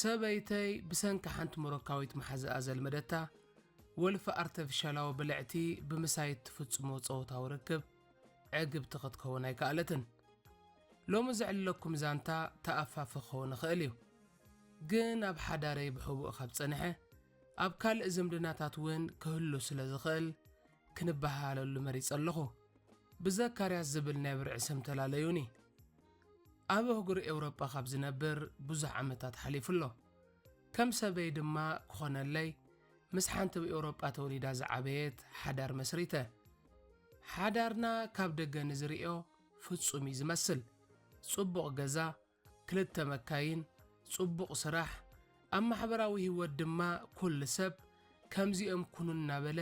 ሰበይተይ ብሰንኪ ሓንቲ ሞሮካዊት መሓዝኣ ዘልመደታ ወልፊ ኣርተፊሻላዊ ብልዕቲ ብምሳይ እትፍጽሞ ጸወታዊ ርክብ ዕግብቲ ክትከውን ኣይከኣለትን። ሎሚ ዘዕልለኩም ዛንታ ተኣፋፊ ክኸውን ይኽእል እዩ። ግን ኣብ ሓዳረይ ብሕቡእ ካብ ጸንሐ፣ ኣብ ካልእ ዝምድናታት እውን ክህሉ ስለ ዝኽእል ክንበሃሃለሉ መሪጸ ኣለኹ። ብዘካርያስ ዝብል ናይ ብርዒ ስም ተላለዩኒ። ኣብ ኣህጉር ኤውሮጳ ካብ ዝነብር ብዙሕ ዓመታት ሓሊፉ ኣሎ። ከም ሰበይ ድማ ክኾነለይ ምስ ሓንቲ ኣብ ኤውሮጳ ተወሊዳ ዝዓበየት ሓዳር መስሪተ። ሓዳርና ካብ ደገ ንዝርእዮ ፍጹም እዩ ዝመስል። ጽቡቕ ገዛ፣ ክልተ መካይን፣ ጽቡቕ ስራሕ፣ ኣብ ማሕበራዊ ህይወት ድማ ኩሉ ሰብ ከምዚኦም ኩኑ እናበለ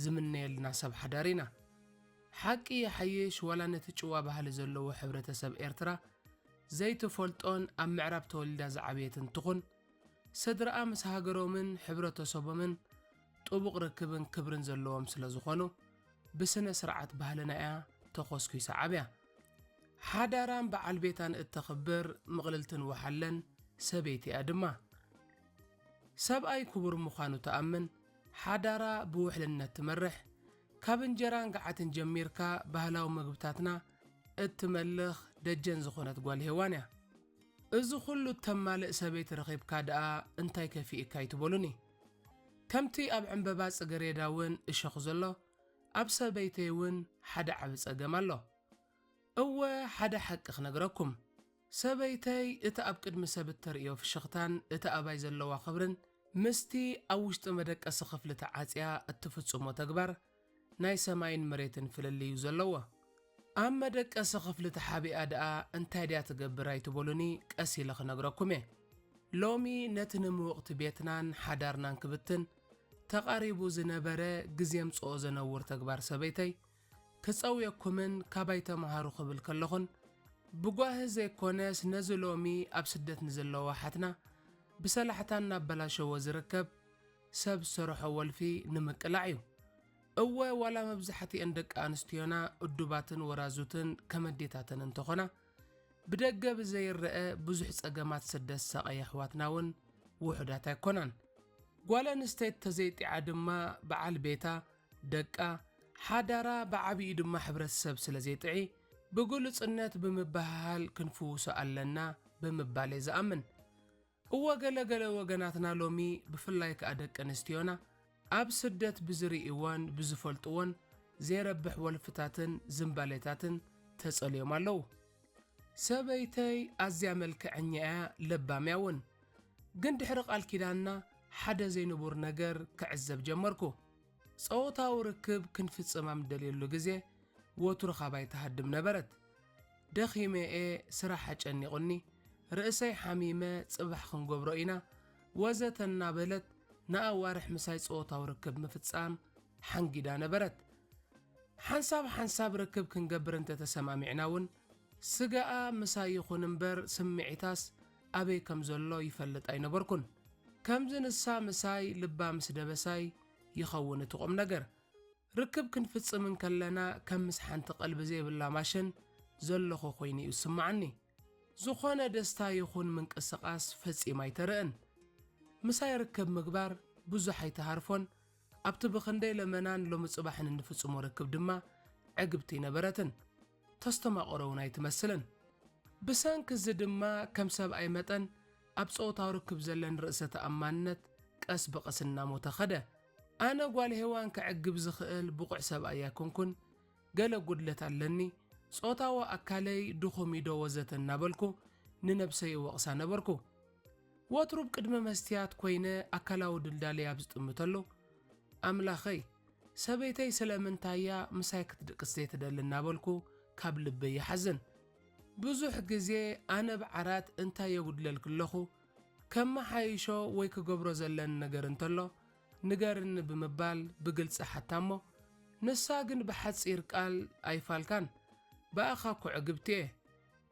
ዝምነየልና ሰብ ሓዳር ኢና። ሓቂ ይሓይሽ ዋላ ነቲ ጭዋ ባህሊ ዘለዎ ሕብረተሰብ ኤርትራ ዘይትፈልጦን ኣብ ምዕራብ ተወሊዳ ዝዓበየትን ትኹን ስድራኣ ምስ ሃገሮምን ሕብረተሰቦምን ጥቡቕ ርክብን ክብርን ዘለዎም ስለ ዝኾኑ፣ ብስነ ስርዓት ባህልና እያ ተኾስኲሳ ዓብያ። ሓዳራን በዓል ቤታን እተኽብር ምቕልልትን ወሓለን ሰበይቲ እያ ድማ። ሰብኣይ ክቡር ምዃኑ ትኣምን፣ ሓዳራ ብውሕልነት ትመርሕ፣ ካብ እንጀራን ገዓትን ጀሚርካ ባህላዊ መግብታትና እትመልኽ ደጀን ዝኾነት ጓል ሄዋን እያ። እዚ ኩሉ እተማልእ ሰበይቲ ረኺብካ ድኣ እንታይ ከፊእካ ኣይትበሉኒ። ከምቲ ኣብ ዕንበባ ጽገሬዳ ውን እሾኽ ዘሎ ኣብ ሰበይተይ ውን ሓደ ዓቢ ጸገም ኣሎ። እወ ሓደ ሓቂ ክነግረኩም ሰበይተይ እቲ ኣብ ቅድሚ ሰብ እተርእዮ ፍሽኽታን እቲ ኣባይ ዘለዋ ክብርን ምስቲ ኣብ ውሽጢ መደቀሲ ክፍሊ ተዓጽያ እትፍጽሞ ተግባር ናይ ሰማይን መሬትን ፍልልዩ ዘለዎ። ኣብ መደቀሲ ክፍሊ ተሓቢኣ ደኣ እንታይ ድያ ትገብር ኣይትበሉኒ ቀስ ኢለ ክነግረኩም እየ። ሎሚ ነቲ ንምውቕቲ ቤትናን ሓዳርናን ክብትን ተቓሪቡ ዝነበረ ግዜምጽኦ ዘነውር ተግባር ሰበይተይ ክጸውየኩምን ካባይ ተመሃሩ ክብል ከለኹን ብጓሂ ዘይኮነስ ነዚ ሎሚ ኣብ ስደት ንዘለዋ ኣሓትና ብሰላሕታ እናበላሸዎ ዝርከብ ሰብ ዝሰርሖ ወልፊ ንምቅላዕ እዩ። እወ ዋላ መብዛሕትኤን ደቂ ኣንስትዮና እዱባትን ወራዙትን ከም ኣዴታተን እንተኾና ብደገ ብዘይረኣ ብዙሕ ጸገማት ስደት ዝሳቐያ ኣሕዋትና እውን ውሑዳት ኣይኮናን። ጓል ኣንስተይቲ ተዘይጢዓ ድማ በዓል ቤታ፣ ደቃ፣ ሓዳራ ብዓቢኡ ድማ ሕብረተሰብ ስለዘይጥዒ ብግሉጽነት ብምብህሃል ክንፍውሶ ኣለና ብምባል እየ ዝኣምን። እወ ገለ ገለ ወገናትና ሎሚ ብፍላይ ከኣ ደቂ ኣንስትዮና ኣብ ስደት ብዝርእይዎን ብዝፈልጥዎን ዜረብሕ ወልፍታትን ዝምባሌታትን ተጸልዮም ኣለዉ። ሰበይተይ ኣዝያ መልከዐኛ እያ ለባም እያ እውን። ግን ድሕሪ ቃል ኪዳንና ሓደ ዘይንቡር ነገር ክዕዘብ ጀመርኩ። ጸወታዊ ርክብ ክንፍጽም ኣብ ንደልየሉ ግዜ ወትሩ ካባይ ትሃድም ነበረት። ደኺመ እየ ስራሕ ኣጨኒቑኒ ርእሰይ ሓሚመ ጽባሕ ክንገብሮ ኢና ወዘተ እናበለት ንኣዋርሕ ምሳይ ጾታዊ ርክብ ምፍጻም ሓንጊዳ ነበረት። ሓንሳብ ሓንሳብ ርክብ ክንገብር እንተ ተሰማሚዕና እውን ስጋኣ ምሳይ ይኹን እምበር ስምዒታስ ኣበይ ከም ዘሎ ይፈልጥ ኣይነበርኩን። ከምዚ ንሳ ምሳይ ልባ ምስ ደበሳይ ይኸውን እቲ ቁም ነገር። ርክብ ክንፍጽም እንከለና ከም ምስ ሓንቲ ቀልቢ ዘይብላ ማሸን ዘሎኹ ኮይኑ'ዩ ዝስምዓኒ። ዝኾነ ደስታ ይኹን ምንቅስቓስ ፈጺም ኣይተርእን። ምሳይ ርክብ ምግባር ብዙሕ ኣይትሃርፎን፣ ኣብቲ ብኽንደይ ለመናን ሎሚ ጽባሕን እንፍጽሞ ርክብ ድማ ዕግብቲ ኣይነበረትን። ተስተማቕሮ'ውን ኣይትመስልን። ብሰንኪ እዚ ድማ ከም ሰብኣይ መጠን ኣብ ጾታዊ ርክብ ዘለኒ ርእሰ ተኣማንነት ቀስ ብቐስ እናሞተ ከደ። ኣነ ጓል ሄዋን ከዕግብ ዝኽእል ብቑዕ ሰብኣይ ኣይኮንኩን፣ ገለ ጉድለት ኣለኒ፣ ጾታዊ ኣካለይ ድኹም እዩ ዶ ወዘተ እናበልኩ ንነብሰይ እወቕሳ ነበርኩ። ወትሩ ብ ቅድሚ መስትያት ኮይነ ኣካላዊ ድልዳለይ ኣብ ዝጥምተሉ፣ ኣምላኸይ ሰበይተይ ስለምንታይ እያ ምሳይ ክትድቅስ ዘይትደሊ እናበልኩ ካብ ልበይ ይሓዝን። ብዙሕ ግዜ ኣነ ብ ዓራት እንታይ የጉድለልኪ ኣለኹ፣ ከመሓይሾ ወይ ክገብሮ ዘለኒ ነገር እንተሎ ንገርኒ ብምባል ብግልጺ ሓታ'ሞ፣ ንሳ ግን ብሓጺር ቃል ኣይፋልካን፣ ብኣኻ'ኮ ዕግብቲ'የ፣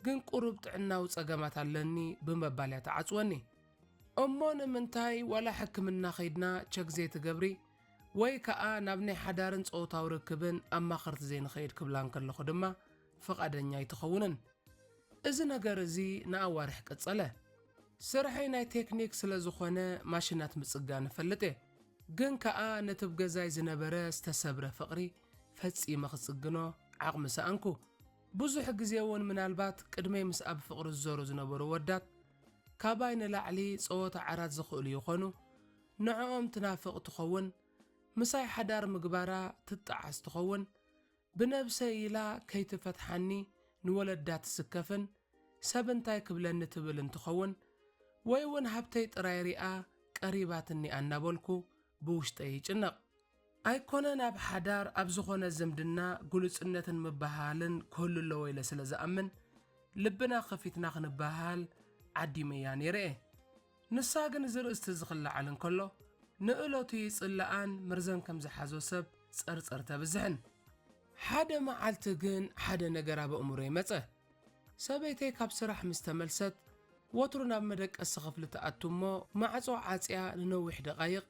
ግን ቁሩብ ጥዕናዊ ጸገማት ኣለኒ ብምባል'ያ ትዓጽወኒ። እሞ ንምንታይ ዋላ ሕክምና ከይድና ቸክ ዘይትገብሪ ወይ ከኣ ናብ ናይ ሓዳርን ጾታዊ ርክብን ኣማኸርቲ ዘይንኸይድ ክብላ እንከለኹ ድማ፣ ፍቓደኛ ኣይትኸውንን። እዚ ነገር እዚ ንኣዋርሕ ቀጸለ። ስርሐይ ናይ ቴክኒክ ስለ ዝኾነ ማሽናት ምጽጋን እፈልጥ እየ። ግን ከኣ ነቲ ብ ገዛይ ዝነበረ ዝተሰብረ ፍቕሪ ፈጺመ ክጽግኖ ዓቕሚ ሰኣንኩ። ብዙሕ ግዜ እውን ምናልባት ቅድመይ ምስኣ ብፍቕሪ ዝዞሩ ዝነበሩ ወዳት ካባይ ንላዕሊ ጸወታ ዓራት ዝኽእሉ ይኾኑ። ንዕኦም ትናፍቕ ትኸውን። ምሳይ ሓዳር ምግባራ ትጠዓስ ትኸውን። ብነብሰይ ኢላ ከይትፈትሓኒ ንወለዳ ትስከፍን ሰብ እንታይ ክብለኒ ትብል እንትኸውን ወይ ውን ሃብተይ ጥራይ ሪኣ ቀሪባትኒ ኣናበልኩ ብውሽጠይ ይጭነቕ። ኣይኮነን ኣብ ሓዳር ኣብ ዝኾነ ዝምድና ግሉጽነትን ምብህሃልን ክህሉ ኣለዎ ኢለ ስለ ዝኣምን ልብና ከፊትና ክንበሃሃል ዓዲመያ ነይረ'የ። ንሳ ግን እዚ ርእስቲ እዚ ክለዓል እንከሎ ንእለቱ ይጽልኣን ምርዘን ከም ዝሓዞ ሰብ ጸርጸር ተብዝሕን። ሓደ መዓልቲ ግን ሓደ ነገር ኣብ ኣእምሮይ መጸ። ሰበይተይ ካብ ስራሕ ምስ ተመልሰት ወትሩ ናብ መደቀሲ ክፍሊ ትኣቱ እሞ ማዕጾ ዓጽያ ንነዊሕ ደቓይቕ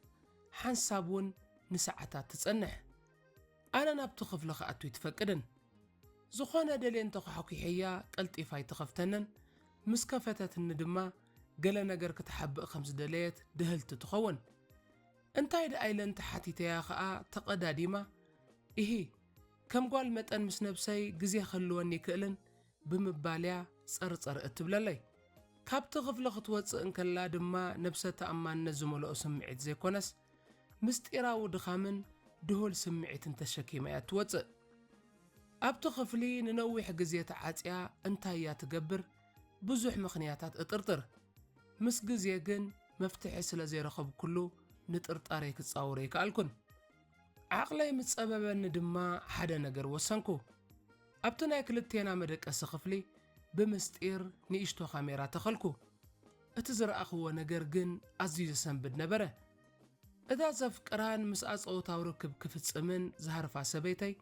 ሓንሳብ እውን ንሰዓታት ትጸንሕ። ኣነ ናብቲ ክፍሊ ክኣቱ ኣይትፈቅድን። ዝኾነ ደልየ እንተ ኳሕኲሐያ ቀልጢፋ ኣይትኸፍተንን፣ ምስ ከፈተትኒ ድማ ገለ ነገር ክትሓብእ ከም ዝደለየት ድህልቲ ትኸውን። እንታይ ደኣ ኢለ እንተ ሓቲተያ ከኣ ተቐዳዲማ፣ ኢሂ፣ ከም ጓል መጠን ምስ ነብሰይ ግዜ ክህልወኒ ኣይክእልን፣ ብምባል'ያ ጸርጸር እትብለለይ። ካብቲ ክፍሊ ክትወጽእ እንከላ ድማ ነብሰ ተኣማንነት ዝመልኦ ስምዒት ዘይኮነስ፣ ምስጢራዊ ድኻምን ድሁል ስምዒትን ተሸኪማ እያ እትወጽእ። ኣብቲ ክፍሊ ንነዊሕ ግዜ ተዓጽያ እንታይ እያ ትገብር ብዙሕ ምኽንያታት እጥርጥር። ምስ ግዜ ግን መፍትሒ ስለ ዘይረኸብኩሉ ንጥርጣረይ ክጻወሮ ኣይከኣልኩን። ዓቕለይ ምስ ጸበበኒ ድማ ሓደ ነገር ወሰንኩ። ኣብቲ ናይ ክልቴና መደቀሲ ክፍሊ ብምስጢር ንእሽቶ ካሜራ ተኸልኩ። እቲ ዝረኣኽዎ ነገር ግን ኣዝዩ ዘሰንብድ ነበረ። እታ ዘፍቅራን ምስኣ ጸወታዊ ርክብ ክፍጽምን ዝሃርፋ ሰበይተይ፣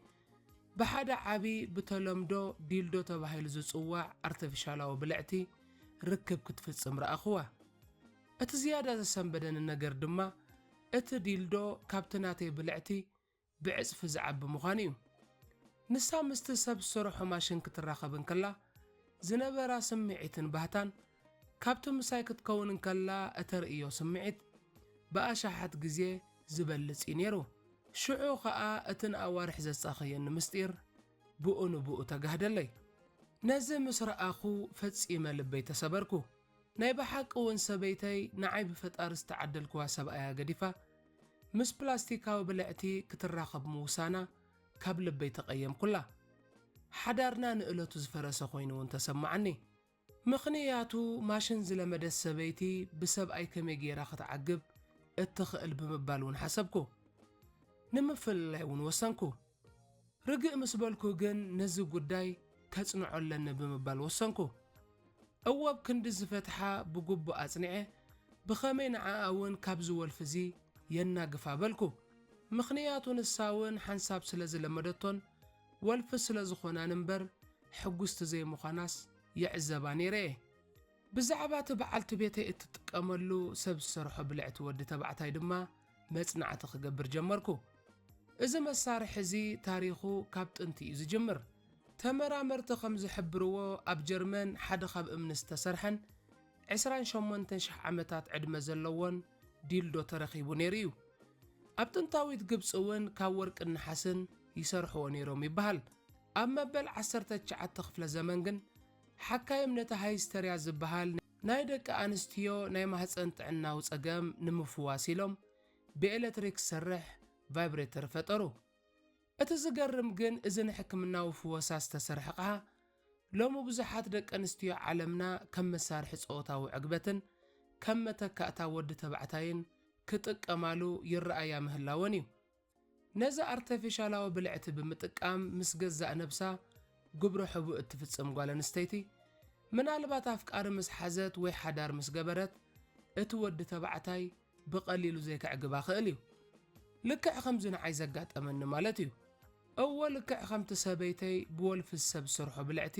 ብሓደ ዓቢ ብተለምዶ ዲልዶ ተባሂሉ ዝጽዋዕ ኣርተፊሻላዊ ብልዕቲ ርክብ ክትፍጽም ረኣኽዋ። እቲ ዝያዳ ዘሰንበደኒ ነገር ድማ እቲ ዲልዶ ካብቲ ናተይ ብልዕቲ ብዕጽፊ ዝዓቢ ምዃኑ እዩ። ንሳ ምስቲ ሰብ ዝሰርሖ ማሽን ክትራኸብ እንከላ ዝነበራ ስምዒትን ባህታን፣ ካብቲ ምሳይ ክትከውን እንከላ እተርእዮ ስምዒት ብኣሽሓት ግዜ ዝበልጽ እዩ ነይሩ። ሽዑ ኸኣ እቲ ንኣዋርሕ ዘሳቐየኒ ምስጢር ብኡ ንብኡ ተጋህደለይ። ነዚ ምስ ረኣኹ ፈጺመ ልበይ ተሰበርኩ። ናይ ብሓቂ ውን ሰበይተይ ንዓይ ብፈጣሪ ዝተዓደልክዋ ሰብኣያ ገዲፋ ምስ ፕላስቲካዊ ብልዕቲ ክትራኸብ ምውሳና ካብ ልበይ ተቀየምኩላ ሓዳርና ንእለቱ ዝፈረሰ ኮይኑ ውን ተሰማዓኒ ምኽንያቱ ማሽን ዝለመደት ሰበይቲ ብሰብኣይ ከመይ ጌራ ክትዓግብ እትኽእል ብምባል ውን ሓሰብኩ ንምፍልላይ ውን ወሰንኩ። ርግእ ምስ በልኩ ግን ነዚ ጉዳይ ከጽንዖ ኣለኒ ብምባል ወሰንኩ። እወ ብ ክንዲ ዝፈትሓ ብግቡእ ኣጽኒዐ ብኸመይ ንዓኣ ውን ካብዚ ወልፊ'ዚ የናግፋ በልኩ። ምኽንያቱ ንሳ ውን ሓንሳብ ስለ ዝለመደቶን ወልፊ ስለ ዝኾናን እምበር ሕጉስቲ ዘይምዃናስ ይዕዘባ ኔረ'የ። ብዛዕባ እቲ በዓልቲ ቤተይ እትጥቀመሉ ሰብ ዝሰርሖ ብልዕቲ ወዲ ተባዕታይ ድማ መጽናዕቲ ክገብር ጀመርኩ። እዚ መሳርሒ እዚ ታሪኹ ካብ ጥንቲ እዩ ዝጅምር። ተመራመርቲ ከም ዝሕብርዎ ኣብ ጀርመን ሓደ ካብ እምኒ ዝተሰርሐን ዕስራን ሸሞንተን ሽሕ ዓመታት ዕድመ ዘለዎን ዲልዶ ተረኺቡ ነይሩ እዩ። ኣብ ጥንታዊት ግብጺ እውን ካብ ወርቅን ነሓስን ይሰርሕዎ ነይሮም ይበሃል። ኣብ መበል ዓሰርተ ትሽዓተ ክፍለ ዘመን ግን ሓካይም ነቲ ሃይስተርያ ዝበሃል ናይ ደቂ ኣንስትዮ ናይ ማህጸን ጥዕናዊ ጸገም ንምፍዋስ ኢሎም ብኤለትሪክ ዝሰርሕ ቫይብሬተር ፈጠሩ። እቲ ዝገርም ግን እዚ ንሕክምናዊ ፍወሳ ዝተሰርሐ ኣቕሓ ሎሚ ብዙሓት ደቂ ኣንስትዮ ዓለምና ከም መሳርሒ ጸወታዊ ዕግበትን ከም መተካእታ ወዲ ተባዕታይን ክጥቀማሉ ይረኣያ ምህላወን እዩ። ነዛ ኣርተፊሻላዊ ብልዕቲ ብምጥቃም ምስ ገዛእ ነብሳ ግብረ ሕቡእ እትፍጽም ጓል ኣንስተይቲ፣ ምናልባት ኣፍቃሪ ምስ ሓዘት ወይ ሓዳር ምስ ገበረት፣ እቲ ወዲ ተባዕታይ ብቐሊሉ ዘይከዕግባ ክእል እዩ። ልክዕ ከምዚ ንዓይ ዘጋጠመኒ ማለት እዩ። እወ ልክዕ ከምቲ ሰበይተይ ብወልፊ ዝሰብ ዝሰርሖ ብልዕቲ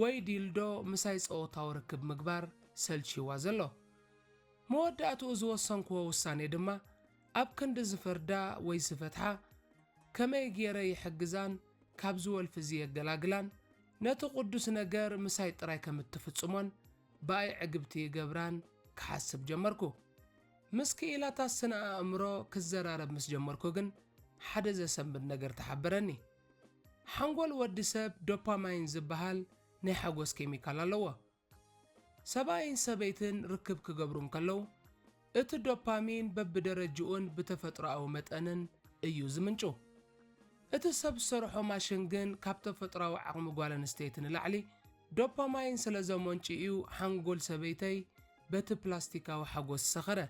ወይ ዲልዶ ምሳይ ጸወታዊ ርክብ ምግባር ሰልችይዋ ዘሎ። መወዳእትኡ ዝወሰንክዎ ውሳኔ ድማ ኣብ ክንዲ ዝፍርዳ ወይ ዝፈትሓ፣ ከመይ ገይረ ይሕግዛን ካብዚ ወልፊ'ዚ የገላግላን፣ ነቲ ቅዱስ ነገር ምሳይ ጥራይ ከም እትፍጽሞን ብኣይ ዕግብቲ ይገብራን ክሓስብ ጀመርኩ። ምስ ክኢላታት ስነ-ኣእምሮ ክዘራረብ ምስ ጀመርኩ ግን ሓደ ዘሰንብድ ነገር ተሓበረኒ። ሓንጎል ወዲ ሰብ ዶፓማይን ዝበሃል ናይ ሓጎስ ኬሚካል ኣለዎ። ሰብኣይን ሰበይትን ርክብ ክገብሩ እንከለዉ፣ እቲ ዶፓሚን በብደረጅኡን ብተፈጥሮኣዊ መጠንን እዩ ዝምንጩ። እቲ ሰብ ዝሰርሖ ማሽን ግን ካብ ተፈጥሮኣዊ ዓቕሚ ጓል ኣንስተይቲ ንላዕሊ ዶፓማይን ስለ ዘመንጩ'ዩ ሓንጎል ሰበይተይ በቲ ፕላስቲካዊ ሓጎስ ዝሰኸረ።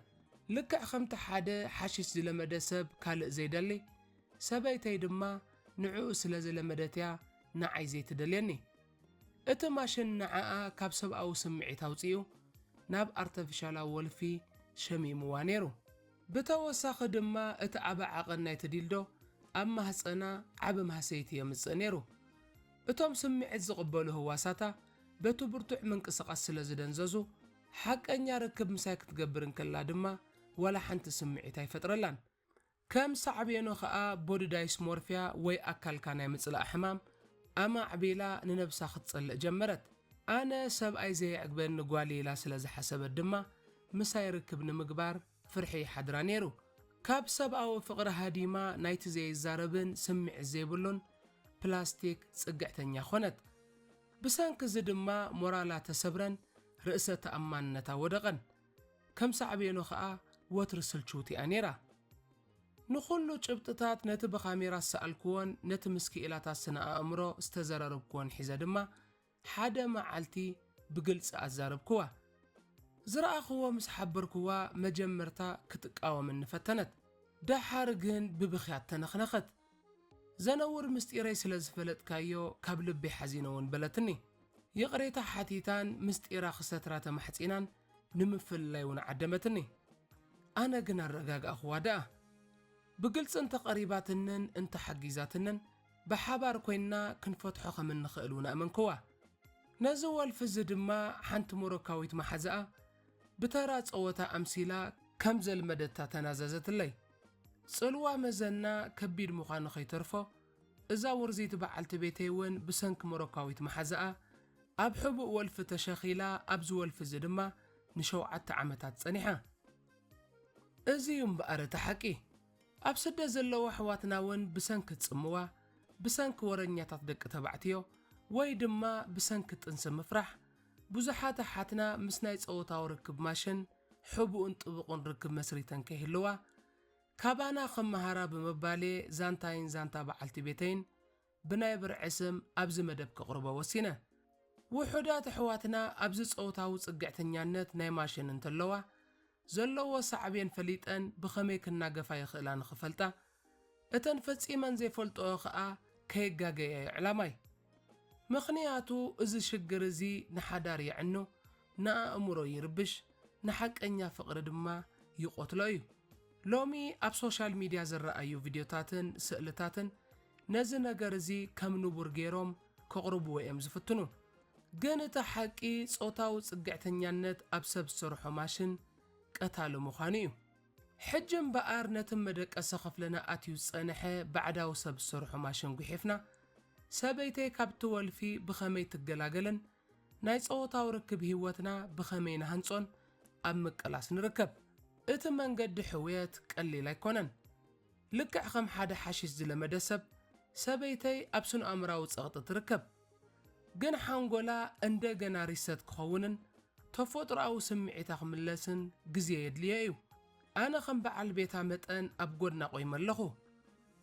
ልክዕ ከምቲ ሓደ ሓሽሽ ዝለመደ ሰብ ካልእ ዘይደሊ፣ ሰበይተይ ድማ ንዕኡ ስለ ዝለመደት'ያ ንዓይ ዘይትደልየኒ። እቲ ማሽን ንዓኣ ካብ ሰብኣዊ ስምዒት ኣውጺኡ ናብ ኣርተፊሻላዊ ወልፊ ሸሚሙዋ ነይሩ። ብተወሳኺ ድማ እቲ ዓቢ ዓቐን ናይቲ ዲልዶ ኣብ ማህጸና ዓቢ ማህሰይቲ የምጽእ ነይሩ። እቶም ስምዒት ዝቕበሉ ህዋሳታ በቲ ብርቱዕ ምንቅስቓስ ስለ ዝደንዘዙ፣ ሓቀኛ ርክብ ምሳይ ክትገብር እንከላ ድማ ዋላ ሓንቲ ስምዒት ኣይፈጥረላን። ከም ሳዕቤኑ ከኣ ቦዲዳይስሞርፊያ ወይ ኣካልካ ናይ ምጽላእ ሕማም ኣማዕቢላ ንነብሳ ክትጸልእ ጀመረት። ኣነ ሰብኣይ ዘየዕግበኒ ጓል'የ ኢላ ስለ ዝሓሰበት ድማ ምሳይ ርክብ ንምግባር ፍርሒ ይሓድራ ነይሩ። ካብ ሰብኣዊ ፍቕሪ ሃዲማ ናይቲ ዘይዛረብን ስምዒት ዘይብሉን ፕላስቲክ ጽግዕተኛ ኮነት። ብሰንኪ'ዚ ድማ ሞራላ ተሰብረን ርእሰ ተኣማንነታ ወደቐን። ከም ሳዕቤኑ ከኣ ወትሪ ስልችውቲ እያ ነይራ። ንኹሉ ጭብጥታት ነቲ ብካሜራ ዝሰኣልክዎን ነቲ ምስ ክኢላታት ስነ-ኣእምሮ ዝተዘረርብክዎን ሒዘ ድማ ሓደ መዓልቲ ብግልጺ ኣዛረብክዋ። ዝረኣኽዎ ምስ ሓበርክዋ መጀመርታ ክትቃወመኒ ፈተነት። ደሓር ግን ብብኽያት ተነኽነኸት። ዘነውር ምስጢረይ ስለ ዝፈለጥካዮ ካብ ልበይ ሓዚነ ውን በለትኒ። ይቕሬታ ሓቲታን ምስጢራ ክሰትራ ተማሕጺናን ንምፍልላይ ውን ዓደመትኒ። ኣነ ግን ኣረጋጋእኹዋ ደኣ። ብግልጺ እንተ ቀሪባትንን እንተ ሓጊዛትንን ብሓባር ኮይንና ክንፈትሖ ከም እንኽእል ውን ኣእመንክዋ። ነዚ ወልፊ እዚ ድማ ሓንቲ ሞሮካዊት መሓዛኣ ብተራ ጸወታ ኣምሲላ ከም ዘልመደታ ተናዘዘትለይ። ጽልዋ መዘና ከቢድ ምዃኑ ከይተርፎ፣ እዛ ውርዚቲ በዓልቲ ቤተይ እውን ብሰንኪ ሞሮካዊት መሓዛኣ፣ ኣብ ሕቡእ ወልፊ ተሸኺላ፣ ኣብዚ ወልፊ እዚ ድማ ንሸውዓተ ዓመታት ጸኒሓ። እዚ እዩ እምበኣር እቲ ሓቂ። ኣብ ስደት ዘለዉ ኣሕዋትና እውን ብሰንኪ ጽምዋ፣ ብሰንኪ ወረኛታት ደቂ ተባዕትዮ፣ ወይ ድማ ብሰንኪ ጥንሲ ምፍራሕ፣ ብዙሓት ኣሓትና ምስ ናይ ጸወታዊ ርክብ ማሽን ሕቡእን ጥቡቕን ርክብ መስሪተን ከይህልዋ፣ ካባና ክመሃራ ብምባል'የ ዛንታይን ዛንታ በዓልቲ ቤተይን ብናይ ብርዒ ስም ኣብዚ መደብ ከቕርቦ ወሲነ። ውሑዳት ኣሕዋትና ኣብዚ ጸወታዊ ጽግዕተኛነት ናይ ማሽን እንተለዋ፣ ዘለዎ ሳዕቤን ፈሊጠን ብኸመይ ክናገፋ ይኽእላ ንኽፈልጣ፣ እተን ፈጺመን ዘይፈልጥኦ ከኣ ከየጋገያ ዩ ዕላማይ። ምኽንያቱ እዚ ሽግር እዚ ንሓዳር የዕኑ፣ ንኣእምሮ ይርብሽ፣ ንሓቀኛ ፍቕሪ ድማ ይቖትሎ እዩ። ሎሚ ኣብ ሶሻል ሚድያ ዝረኣዩ ቪድዮታትን ስእልታትን ነዚ ነገር እዚ ከም ንቡር ገይሮም ከቕርብዎ እዮም ዝፍትኑ። ግን እቲ ሓቂ ጾታዊ ጽግዕተኛነት ኣብ ሰብ ዝሰርሖ ማሽን ቀታሊ ምዃኑ እዩ። ሕጂ እምበኣር ነቲ መደቀሲ ክፍልና ኣትዩ ዝጸንሐ ባዕዳዊ ሰብ ዝሰርሖ ማሽን ጒሒፍና፣ ሰበይተይ ካብቲ ወልፊ ብኸመይ ትገላገልን ናይ ጸወታዊ ርክብ ህይወትና ብኸመይ ንሃንጾን ኣብ ምቅላስ ንርከብ። እቲ መንገዲ ሕውየት ቀሊል ኣይኮነን። ልክዕ ከም ሓደ ሓሽሽ ዝለመደ ሰብ፣ ሰበይተይ ኣብ ስነ-ኣእምሮኣዊ ጸቕጢ ትርከብ። ግን ሓንጎላ እንደገና ሪሰት ክኸውንን ተፎጥሮኣዊ ስምዒታ ክምለስን ግዜ የድልዮ እዩ። ኣነ ከም በዓል ቤታ መጠን ኣብ ጎድና ቆይመ ኣለኹ።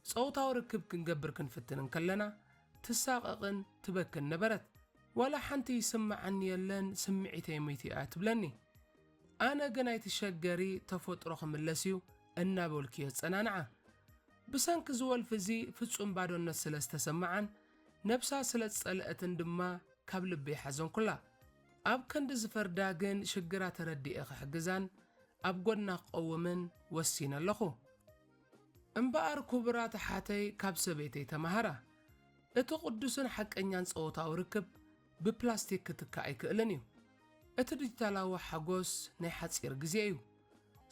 ጸውታዊ ርክብ ክንገብር ክንፍትን እንከለና ትሳቐቕን ትበክን ነበረት። ዋላ ሓንቲ ይስመዓኒ የለን ስምዒተይ ምይቱ እያ ትብለኒ። ኣነ ግን ኣይትሸገሪ ተፎጥሮ ክምለስ እዩ እናበልኩ የጸናንዓ። ብሰንኪ እዚ ወልፊ እዚ ፍጹም ባዶነት ስለ ዝተሰመዓን ነብሳ ስለ ዝጸለኣትን ድማ ካብ ልበይ ሓዘንኩላ። ኣብ ከንዲ ዝፈርዳ ግን ሽግራ ተረዲኤ ክሕግዛን ኣብ ጎድና ክቐውምን ወሲነ ኣለኹ። እምበኣር ኩቡራት ኣሓተይ ካብ ሰበይተይ ተማሃራ። እቲ ቁዱስን ሓቀኛን ጸወታዊ ርክብ ብፕላስቲክ ክትካእ ኣይክእልን እዩ። እቲ ዲጂታላዊ ሓጎስ ናይ ሓጺር ግዜ እዩ።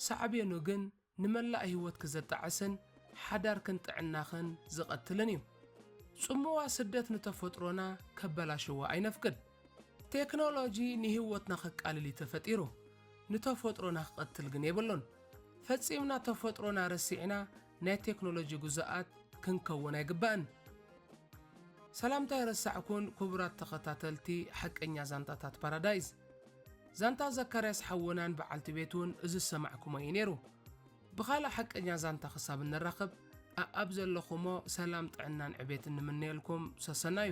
ሳዕቤኑ ግን ንመላእ ህይወትኪ ዘጣዕስን ሓዳርክን ጥዕናኽን ዝቐትልን እዩ። ጽምዋ ስደት ንተፈጥሮና ከበላሽዋ ኣይነፍቅድ። ቴክኖሎጂ ንህይወትና ከቃልል እዩ ተፈጢሩ፣ ንተፈጥሮና ክቐትል ግን የብሉን። ፈጺምና ተፈጥሮና ረሲዕና ናይ ቴክኖሎጂ ግዙኣት ክንከውን ኣይግባእን። ሰላምታ ኣይረሳዕኩን ክቡራት ተኸታተልቲ ሓቀኛ ዛንታታት ፓራዳይዝ። ዛንታ ዘካርያስ ሓውናን በዓልቲ ቤቱን እዚ ዝሰማዕኩሞ እዩ ነይሩ። ብኻልእ ሓቀኛ ዛንታ ክሳብ እንራኸብ ኣኣብ ዘለኹሞ ሰላም ጥዕናን ዕቤትን ንምነየልኩም ሰሰናዩ።